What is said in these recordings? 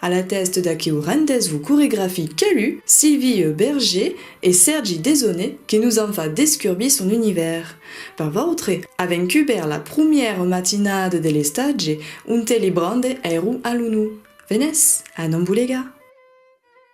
A la tèst d'aqueu rendez-vous coregrafic qu'alu Sylvie Berger e Sèrgi Desaunay que nos an fa descurbir son univèrs. Per vautre, avèm cubèrt la prumièra matinada de l'estatge onte li brande èru a l'unu. Venètz a Nambulega!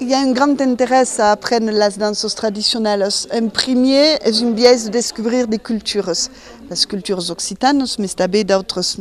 I a un grand interès a aprene las danças tradicionalas. En primier, es un biais de descubrir de culturas, las culturas occitanas, mes tanben d'autres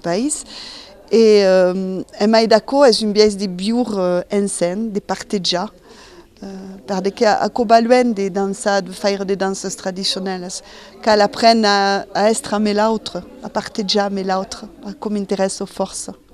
país. E en mai d'aquò, es un biais de viure ensenh, de partejar, perque qu'a aquò val luenh de dançar, de faire de danças tradicionalas. Cal aprene a èstre ame l'autre, a partejar ame l'autre, aquò m'interèssa fòrça.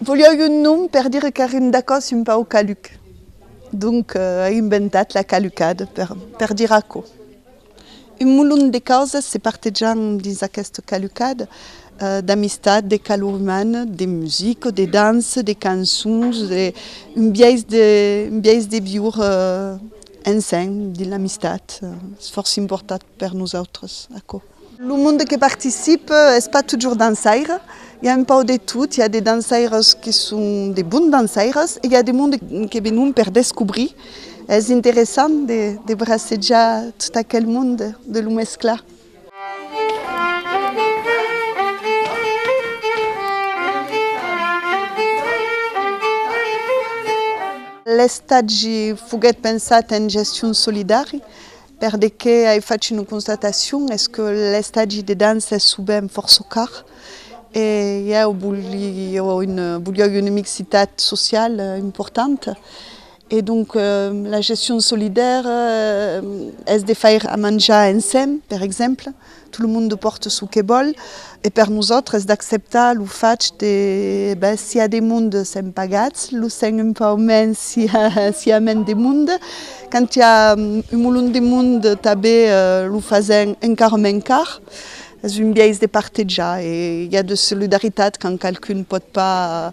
Voliáu un nom per dire qu'èrim d'acòs un pauc caluc, donc ai inventat la calucad per dire aquò. Un molon de causas se partejan dins aquesta calucad, d'amistat, de calor umana, de musica, de dança, de cançons, un biais de viure ensenh dins l'amistat, es fòrça important per nosautres aquò. Lo monde que participe es pas totjorn dançaire, i a un pauc de tot, i a de dançaires que son de bons dançaires e i a de monde que venon per descobrir, es interessant de bracejar tot aquel monde de lo mesclar. L'estatge foguèt pensat en gestion solidari, Per de qué ai fach una constatacion es que l'estagi de dança es sovent fòrça car e ieu volieu una mixitat sociala importanta e donc la gestion solidèra es de faire a manjar ensems per exemple Tout le monde porte ce que vòl e per nosautres d'acceptar lo fach de ben si a de monde sèm pagats lo sèm un pauc mens si a mens de monde quand i a un molon de monde tanben lo fasèm encara mens car es un biais de partejar e i a de solidaritat quand qualqu'un pòt pas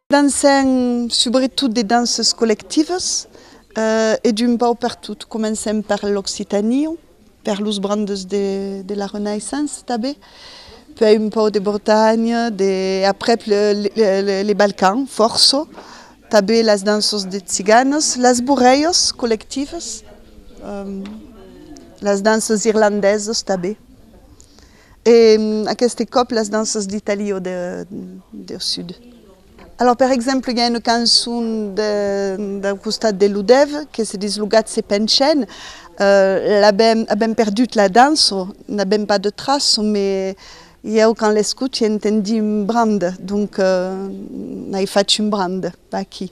Dansèm subretot de dances collectives e d'un pauc per tot. Comencèm per l'occitanie, per los brandes de la Renaissance tanben, puèi un pauc de Bretanha, de aprèp les Balcans fòrça, tanben las danças de tziganes, las borrèias collectives, las danças irlandesas tanben. E aqueste còp las danças d'Italia o deu sud? Alòs per exemple i a una cançon dau costat de Lodèv que se dis lo gat se pencèn, avèm perdut la dança, n'avèm pas de traça, me ieu quand l'escoti entendi un brand, donc n'ai fach un brand, pas aquí.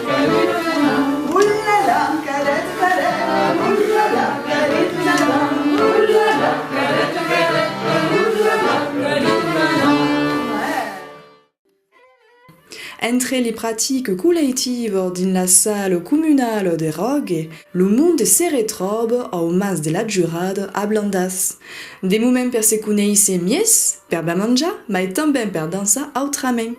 Entre li pratiques coleitives dins la sala comunala de Ròge, lo monde se retròbe au Mas de la Jurada a Blandàs. De moment per se conéisser mies, per ben manjar, mai tanben per dançar autrament.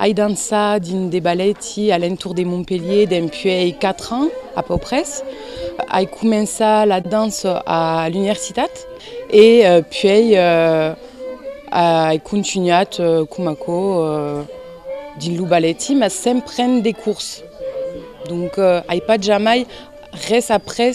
Ai dansat dins de balèti a l'entorn de Montpelhier dempuèi 4 ans, a peu pres. Ai començat la dança a l'universitat e puèi ai contunhat coma aquò dins lo balèti, mas sens prendre de cors. Donc ai pas jamai res après.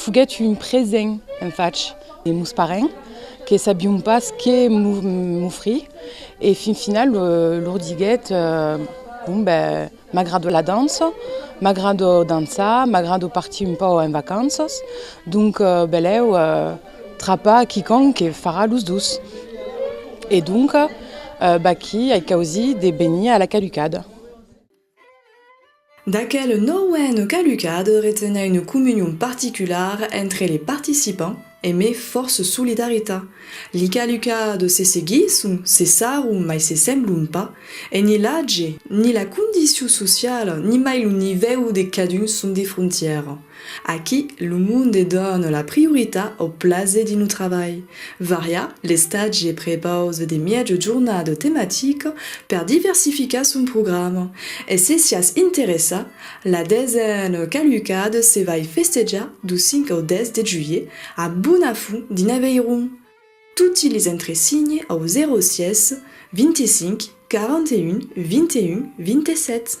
Foguèt un present en fach de mos parents que sabion pas que m'ofrir e fin final lor diguèt, bon ben m'agrada la dança, m'agrada dançar, m'agrada partir un pauc en vacanças, donc belèu trapa quicòm que farà los dos. E donc vaquí ai causit de venir a la caducada. D'aquel nauèn calucat retenha une comunion particular entre les participants e me fòrce solidarita. Li calucats se seguisson, se sarron mai se semblon pas, e ni l'atge, ni la condicion sociala, ni mai lo nivèu de cadun son de frontièra. Aquí, lo monde dona la prioritat au plaser dins lo trabalh. Varià l'estatge prepaus de mièja jornada tematica per diversificar son programa e se siás interessat, la desena calucada se vai festejar du 5 au 10 de julhet a Bonafont dins Aveyron. Toti les entresigne au 06 25 41 21 27.